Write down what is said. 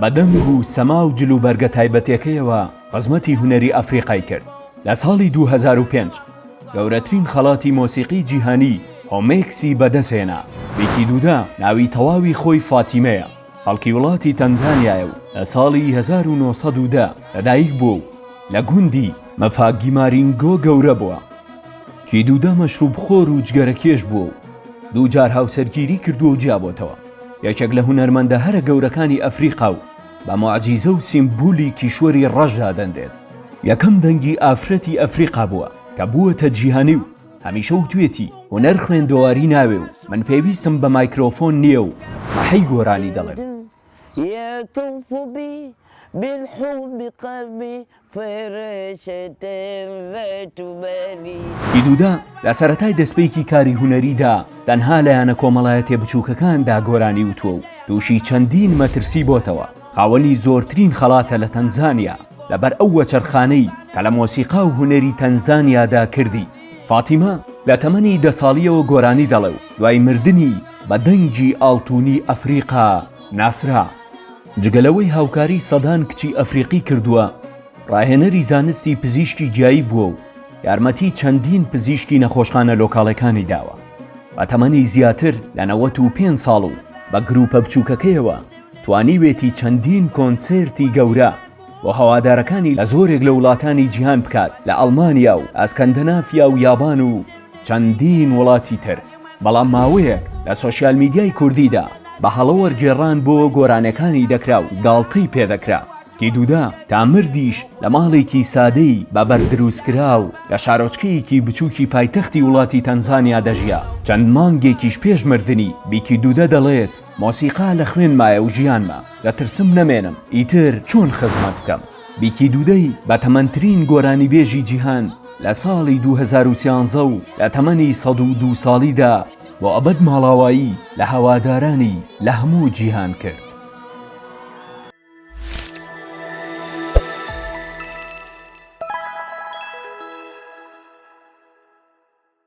بە دەنگ و سەما و جل و بەرگە تایبەتێکەیەوە خزمەتی هونەری ئەفریقای کرد. لە ساڵی دوو هەزار و پێنج گەورەترین خەڵاتی مۆسیقی جیهانی هۆمێکسی بەدەستهێنا. بیکی دودا ناوی تەواوی خۆی فاتیمەیە، خەڵکی وڵاتی تەنزانیایە و لە ساڵی هەزار و نۆ سەد و دە لەدایک بووە و لە گوندی، مفاگی مارینگۆ، گەورە بووە. کیدودا مەشروبخۆر و جگەرەکێش بووە و دوو جار هاوسەرگیری کردووە و جیابۆتەوە. یەکێک لە هونەرمەندە هەرە گەورەکانی ئەفریقا و بە موعجیزە و سیمبولی کیشوەری ڕەش دادەنرێت، یەکەم دەنگی ئافرەتی ئەفریقا بووە کە بووەتە جیهانی و هەمیشە وتوێتی هونەر خوێندەواری ناوێ و من پێویستم بە مایکرۆفۆن نییە و مەحەی گۆرانی دەڵێم. فیلودا لە سەرەتای دەسپێکی کاری هونەریدا تەنها لە یانە کۆمەڵایەتیە بچووکەکاندا گۆرانی وتووە و تووشی چەندین مەترسی بۆتەوە، خاوەنی زۆرترین خەڵاتە لە تەنزانیا لەبەر ئەو وەچەرخانەی کە لە مۆسیقا و هونەری تەنزانیادا کردی. فاتیمە لە تەمەنی دە ساڵیەوە گۆرانی دەڵێ و دوای مردنی بە دەنگی ئاڵتونی ئەفریقا ناسرا. جگە لەوەی هاوکاریی سەدان کچی ئەفریقی کردووە، ڕاهێنەری زانستی پزیشکی گیایی بووە و یارمەتیی چەندین پزیشکی نەخۆشخانە لۆکاڵەکانی داوە. بە تەمەنی زیاتر لە نەوەت و پێنج ساڵ و بە گرووپە بچووکەکەیەوە توانیوێتی چەندین کۆنسێرتی گەورە، و هەوادارەکانی لە زۆرێک لە وڵاتانی جیهان بکات لە ئەڵمانیا و ئەسکەندەنافیا و یابان و چەندین وڵاتی تر بەڵام ماوەیەک لە سۆشیال میدیای کوردیدا بە هەڵە وەرگێڕان بۆ گۆرانێکانی دەکرا و گاڵتەی پێ دەکرا کی دودا تا مردیش لە ماڵێکی سادەی بە بەرد دروست کراو لە شارۆچکەیەکی بچوکی پایتەختی وڵاتی تەنزانیا دەژیا چەند مانگێکیش پێش مردنی بیکی دودا دەڵێت مۆسیقا لە خوێنمایە و ژیانمە، دەترسم نەمێنم، ئیتر چۆن خزمەت بکەم؟ بیکی دودەی بە تەمەنترین گۆرانیبێژی جیهان لە ساڵی دوو هەزار و سیانزە و لە تەمەنی سەد و دوو ساڵیدا بۆ ئەبەد ماڵاوایی لە هەوادارانی لە هەموو جیهان کرد.